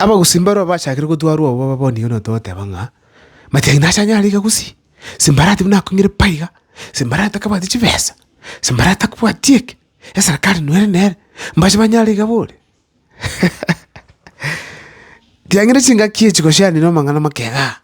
Abagusii mbarabwo bachakire gotwarwa obo babonigo na togoteba ng'a, Matiang'i nache ang'e are igagusii? Simbarati buna akong'ire pai iga, simbarati takabwati chibesa, simbarati takobwati eke, eserekari noere nere, mbache banyare iga bore? Tiang'ire chingaki echi gose aranire amang'ana make igaa.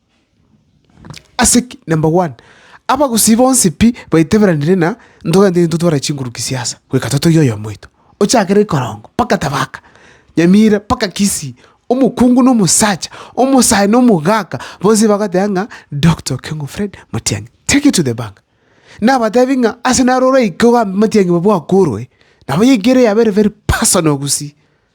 Ase ki? Number one, abagusii bonsi pi baiteberanire na ntogende intwe tware chinkuruki siasa goika totogie oyomo oito, ochakere ikorongo mpaka tabaka, nyamira mpaka kisii, omokungu na omosacha, omosae na omogaka, bonsi bagoteba ng'a Doctor Okengo Fred Matiang'i. Take it to the bank. Nabatebi ng'a ase naro oraike ogambe Matiang'i bwakoroe, nabo yaikere yaba ere very personal gusii.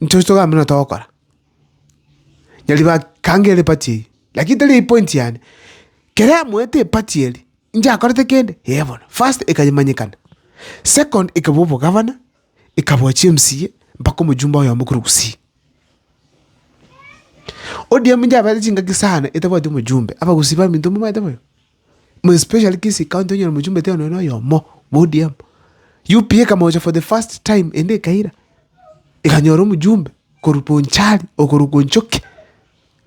Inche oche togambe buna togokora. Nyaribari bakange ere epati eywo, lakini tari eywo point yane. Kere amoete epati eria, inchakorete kende? Yee bono. First ekanyamanyekana, second ekabua obogavana, ekabua chi'emcaa, mpaka omojumbe oyomo korwa gusii. ODM inche abaete chingaki sana etabwati omojumbe, abagusii baminto mbabaete boigo. Mu especially Kisii county onyore mochumbe taiyo nonya noyomo bwa ODM. UPA ekamocha for the first time ende ekaira, ekanyora omojumbe korwa Bonchari okorwa Konchoki,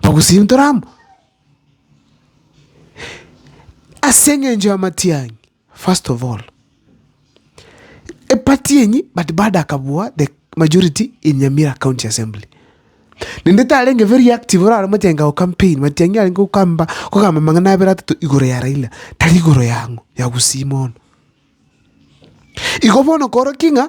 Bogosiri ntoro amo. Ase eng'encho ya matiang'i first of all. a party yenyu but bado akabua the majority in Nyamira county assembly. Nende tarenge very active orare omochenga go campaign Matiang'i arenge gokamba kogamba amang'ana abere atato igoro ya Raila tari igoro yang'o ya gusii mono. Igo bono korokig'a.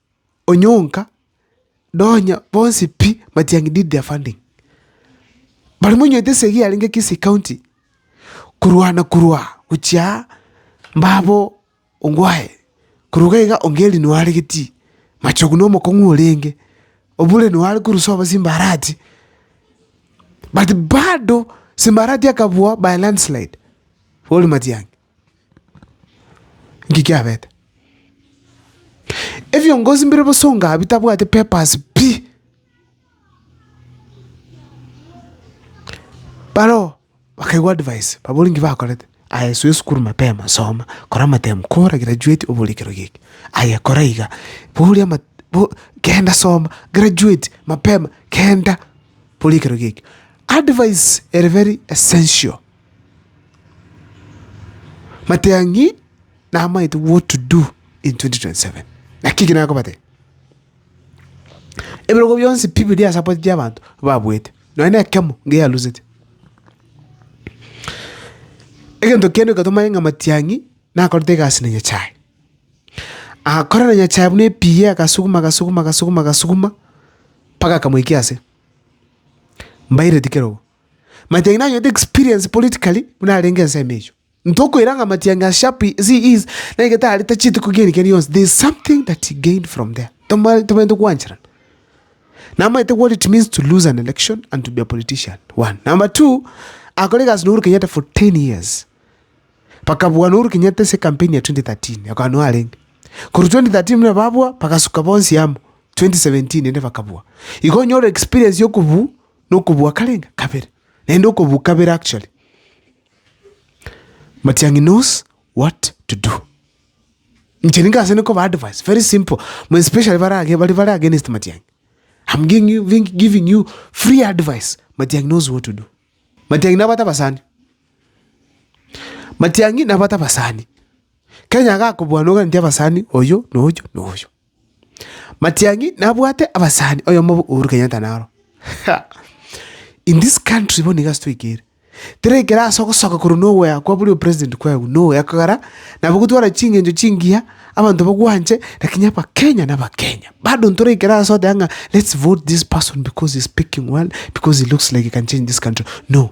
onyonka nonya bonsi pi matiangi did their funding. Baria monywete esegi yarenge Kisii county korwana korwa gochia mbabo Ongwae korwa iga iga Ongeri noyo aregetie Machogu na omokong'u orenge Obure noyo are korusia obosie Mbarati but bado Simbarati akabua by a landslide boria matiangi. Nki kiabete? Ebiongozi mbire bosonga ahaa bitabwati papers pi! Baroo bakaigwa advice, baboria nki bakorete, aye subira esukuru mapema soma, kora amatemu, kora graduate obore ekero giki, aye kora iga, boria ama bo kenda soma, graduate mapema, kenda, boria ekero giki. Advice ere very essential. Matang'i namaete what to do in 2027. Naki ki nakobatebia? Ebirogo bionsi pi biri ase abachie abanto babuete, nonya na ekemo niga yarusete. Egento kende eke tomanye ng'a matiang'i nakorete egasi na Nyasaye. Agakora na Nyasaye buna epiiyi agasuguma agasuguma agasuguma agasuguma mpaka akamoikia ase. Mbaireti kera obo. Matiang'i nanyete experience politically buna arenge ensemo echo. Ntokoira ng'a Matiang'i as sharp as he is, na egete arete chituko kiani kiani yonsi, there is something that he gained from there. Toma- Tomaete kwancherana. Namaete what it means to lose an election and to be a politician. One. Number two, akore egasi na Uhuru Kenyatta for 10 years. Bakabua na Uhuru Kenyatta ase campaign ya 2013, akaba no arenge. Korwa 2013 buna babua, bagasuka bonsi amo. 2017 ende bakabua. Igo onyore experience yokobu Nokobua karenga kabere, naende okobua kabere actually. Matiang'i knows what to do. Inche ninke ase nkoba advice very simple, more especially bare age baria bare against Matiang'i. I'm giving you, giving you free advice, Matiang'i knows what to do. Matiang'i nabwate abasani. Matiang'i nabwate abasani. Kenya agakobua noganetie abasani oyo na oyo na oyo. Matiang'i nabwate abasani oyomo bo Uhuru Kenyatta naro. In this country bono iga ase toigere. Tera ekero ase ogosoka korwa nowhere kwa bori opresident kwaegwa nowhere kogera nabo gotwara ching'encho chingiya abanto bagwanche lakini abakenya na abakenya. Bado ntore ekero ase oteba ng'a let's vote this person because he's speaking well, because he looks like he can change this country, no.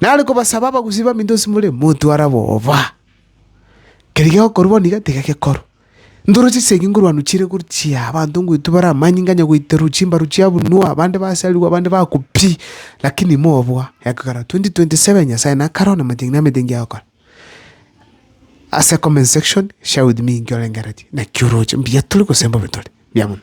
Nare kobasaba abagusii baminto ase more, motware oboba. Keria gegokorwa bono iga tiga gekorwe. Ntoro chisegi nkorwanwa chire gochia, abanto ngoitwa bare amanyinga nganya goiterwa chimbaru chiabunwa, abande basarigwa, abande bakwa pi, lakini mobwa egokera 2027 Nyasaye nakare one amating'ina na emetengio agokora. Ase comment section, share with me inki orengereretie, naki oroche, mbuya tore gose mbobe tore. Mbuya mono.